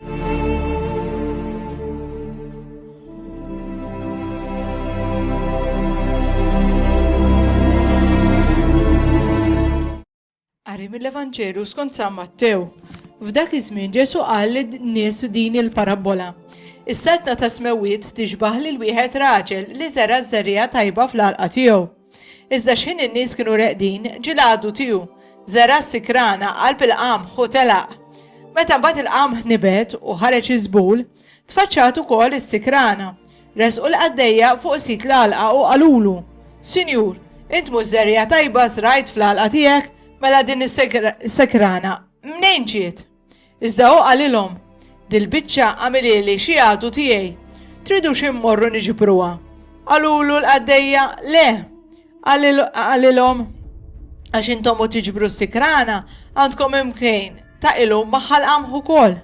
Qari mill-Evanġelu skont San Mattew. F'dak iż-żmien Ġesu qal lin-nies din il-parabbola. Is-saltna ta' smewwiet tixbaħ lil wieħed raġel li żera' żerriegħa tajba fl-għalqa tiegħu. Iżda x'ħin in-nies kienu reqdin, ġie l-għadu tiegħu. Żergħa sikrana, qalb il-qamħ u telaq. Meta mbagħad il-qamħ nibet u ħareġ iż-żbul, tfaċċat ukoll is-sikrana. Resqu l-qaddejja fuq sit l-għalqa u qalulu, Sinjur, int mhux żerriegħa tajba żrajt fl-għalqa tiegħek, mela din is-sikrana mnejn ġiet? Iżda hu qalilhom, Dil-biċċa għamilieli xi għadu tiegħi. Tridux immorru niġbruha? Qalulu l-qaddejja, Le! Qalilhom, Għax intom u tiġbru s-sikrana, għandkom imkejn ta' ilum maħħal qamħ ukoll.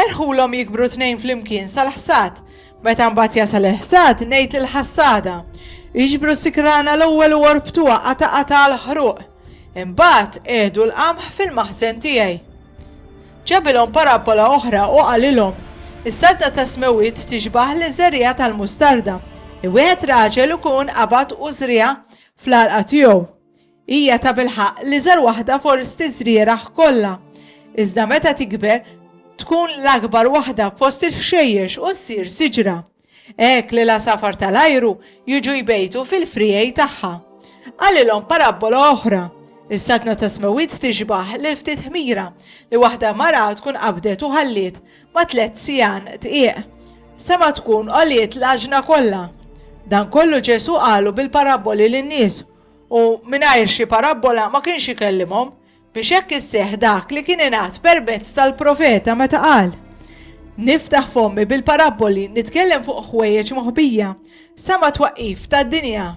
Erħulhom jikbru tnejn flimkien sal-ħsad, Meta mbagħad jasal il-ħsad, ngħid lill-ħassada, Iġbru s-sikrana l-ewwel u orbtuha qata' qata' għall-ħruq. Imbagħad qiegħdu l-qamħ fil-maħżen tiegħi. Ġabilhom parabbola oħra u qalilhom, Is-sadda tas-smewwiet tixbah liż-żerriegħa tal-mustarda. Li wieħed raġel ikun qabad u żriegħa fl-għalqa tiegħu. Hija tabilħaqq l-iżgħar waħda fost iż-żrieragħ kollha, iżda meta tikber tkun l-akbar waħda fost il-ħxejjex u ssir siġra. Hekk li l-għasafar tal-ajru jiġu jbejtu fil-friegħi tagħha. Qalilhom parabbola oħra. Is-saltna ta' Smewwiet tixbah lil ftit ħmira li waħda mara tkun qabdet u ħalliet ma' tliet siegħan dqiq. Sema tkun għoliet l-għaġna kollha. Dan kollu Ġesù qalu bil-parabboli lin-nies u mingħajr xi parabbola ma kienx ikellimhom biex hekk isseħ dak li kien ingħad permezz tal-profeta meta qal. Niftaħ fommi bil-parabboli nitkellem fuq ħwejjeġ moħbija sa ma twaqqif tad-dinja.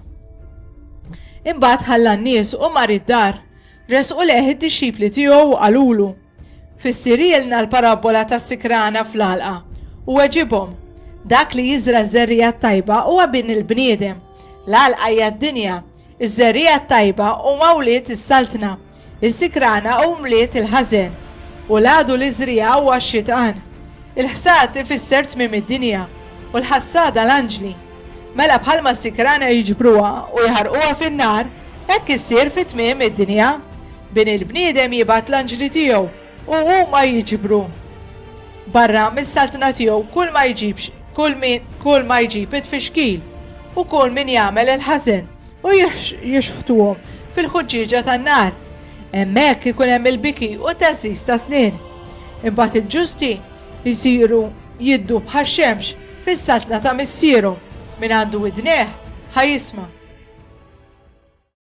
Imbagħad ħalla n-nies u mar id-dar, resqu leħ id-dixxipli tiegħu qalulu. Fissirilna l-parabbola tas-sikrana fl-għalqa u weġibhom. Dak li jiżra ż-żerriegħa t-tajba huwa bin il-bniedem. L-għalqa hija d-dinja. Iż-żerriegħa t-tajba huma wlied is-Saltna. Is-sikrana hu mliet il-ħażen. U l-għadu li żriegħa huwa x-Xitqan. Il-ħsad ifisser tmiem id-dinja u l-ħassada l-anġli. Mela bħalma s-sikrana jiġbruha u jħarquha fin-nar, hekk issir fi tmiem id-dinja. Bin il-bniedem jibgħat l-anġli tiegħu u huma jiġbru barra mis-saltna tiegħu kull ma jġibx kull min kull ma jġib it-tfixkil u kull min jagħmel il-ħażen u jixħtuhom fil-ħuġġieġa tan-nar. Hemmhekk ikun hemm il-biki u teżżiż ta' snien. Imbagħad il-ġusti Isiru jiddu bħax-xemx fis-saltna ta' Missierhom, min għandu widnejh ħa jisma'.